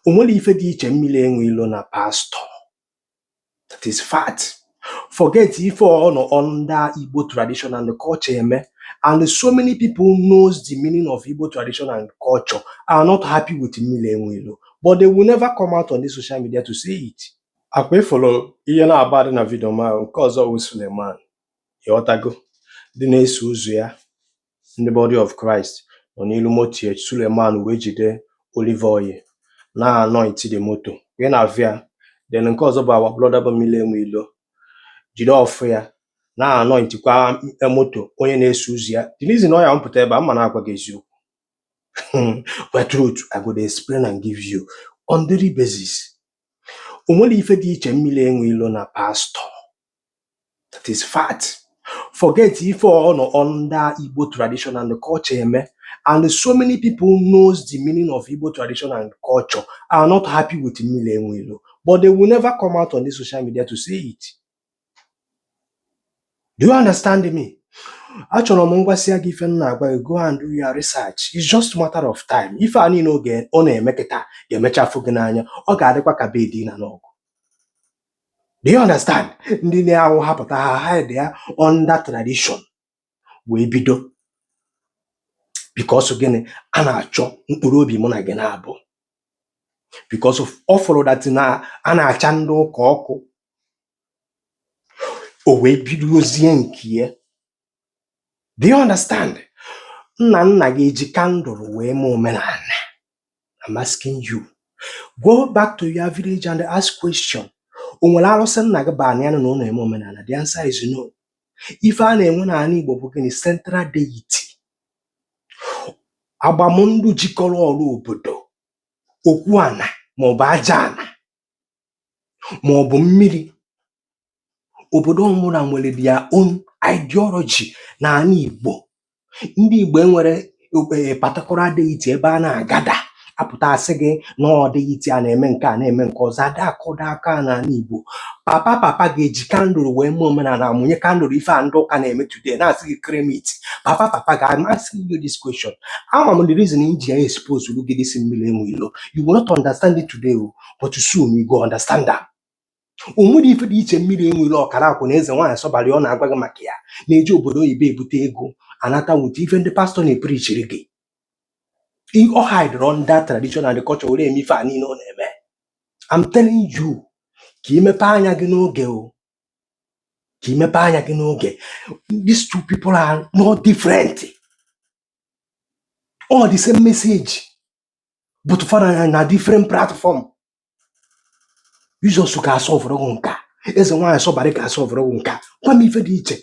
o nwere ife dị iche mmili enwe ilo na pastọ that is fact forget ife ọ nọ under Igbo tradition and culture eme and so many people knows the meaning of Igbo tradition and culture are not happy with mmili enwe ilo but they will never come out on the social media to say it akwa ị fụrụ ihe na-agba dị na vidio ma nke ọzọ wụ Suleman ị ghọtago ndị na-eso ụzọ ya ndị Body of Christ nọ n'ilu moto ya Suleman wee jide olive oil na-anoint the moto wee na-avịa then nke ọzọ bụ our brother bụ mmili enwe ilo jide ọfọ ya na-anointkwa moto onye na-eso ụzọ ya the reason why m pụta ebe a ma na-agwa gị eziokwu but truth I go dey explain and give you on daily basis o nwere ife dị iche mmili enwe ilo na pastọ that is fact forget ife ọ nọ under Igbo tradition and culture eme and so many people knows the meaning of Igbo tradition and culture are not happy with mmili enwe ilo but they will never come out on the social media to say it do you understand me achọrọ m m gwasịa gị ife m na-agwa gị go and do your research it's just matter of time ife a niine ọ na-eme kịta ga-emecha afụ gị n'anya ọ ga-adịkwa ka bedi na n'ọgụ do you understand ndị na-awụ ha pụta ha hide ya under tradition wee bido because gịnị a na-achọ mkpụrụ obi mụ na gị na-abụ because ọ fụrụ that na a na-acha ndị ụka ọkụ o wee bidozie nke ya do you understand nna nna gị eji kandụl wee mee omenana I'm asking you go back to your village and ask question o nwere arụsị nna gị bubanụ na ụnọ eme omenana the answer is no ife a na-enwe n'ana Igbo bụ gịnị central deity agbamndụ jikọrọ ọra obodo okwu ana maọbụ aja ana maọbụ mmiri obodo ọbụla nwere their own ideology na ana Igbo ndị Igbo enwerọ particular deity ebe a na-agada a pụta a sị gị na ọ deity a na-eme nke a na-eme nke ọzọ ada akụda aka a n'ana Igbo papa papa gị eji kandụl wee mee omenana mụnye kandụl ife a ndị ụka na-eme today na-asị gị kremit papa papa gị I'm asking you this question ama m the reason i ji ya expose gị this mmiri enwe ilo you will not understand it today o, but soon you go understand am o nwere ife dị iche mmiri enwe ilo ọkara akụ na eze nwaanyị sọbarị ọ na-agwa gị maka ya na-eji obodo oyibo ebute ego anata wute ife ndị pastọ na-epirichiri gị I- ọ hidere under tradition and culture were eme ife a niile ọ na-eme I'm telling you ka i mepe anya gị n'oge o ka i mepe anya gị n'oge these two people are not different all the same message but fa nọ na different platform Jizọs ga-asụ ọvụrụ gị nke a eze nwaanyị sọbarị ga-asụ ọvụrụ gị nke a gwa m ife dị iche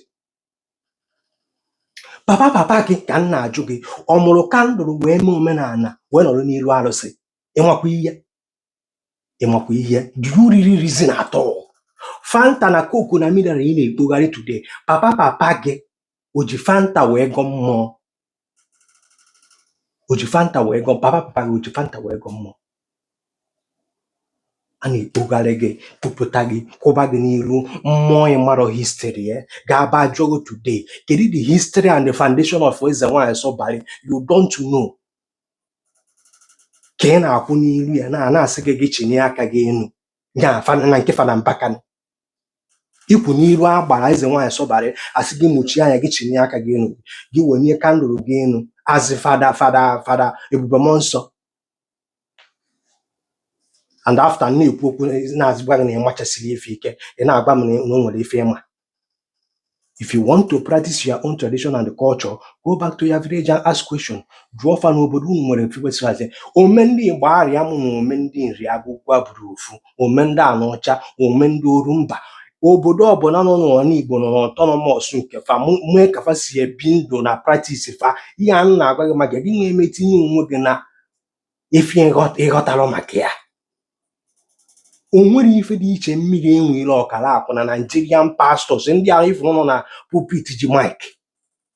papa papa gị ka m na-ajụ gị ọ mụrụ kandụl wee mee omenala wee nọrọ n'iru arụsị ị makwa ihe ị makwa ihe do you really reason at all fanta na coke na mineral ị na-ekpogharị today papa papa gị o ji fanta wee gọ mmụọ o ji fanta wee gọ papa papa gị o ji fanta wee gọ mmụọ a na-akpụgharị gị kpụpụta gị kwụba gị n'iru mmụọ ị marọ history ya ga-aba ajụọ gị today kedu the history and the foundation of eze nwaanyị sọbarị you don't know ka ị na-akwụ n'iru ya a na-asị gị gị chinie aka gị enu ya fana na nke fada Mbaka ị kwụ n'iru agbara eze nwaanyị sọbarị a sị gị mụchie anya gị chinie aka gị enu gị wenie kandụl gị enu a sị fada fada fada ebube mmụọ nsọ and after m na-ekwu okwu na-azịgwa gị na ị machasiri ife ike ị na-agwa m na na o nwere ife ị ma if you want to practice your own tradition and culture go back to your village and ask question jụọ fa na obodo unu nwere frequency hazie ome ndị Igbariam na ome ndị Nri Agụkwụ abụrọ ofu ome ndị Anaọcha ome ndị Orumba obodo ọbụna nọ n'ana igbo nọ n'autonomous nke fa mụ- mee ka fa si ebi ndụ na practice fa ihe a m na-agwa gị maka gị na-eme tinye onwe gị na ife ị ghọtarọ maka ya o nwere ife dị iche mmiri enwe ilo ọkara akụ na Nigerian pastors ndị ahụ ị fụrụ nọ na pulpit ji mike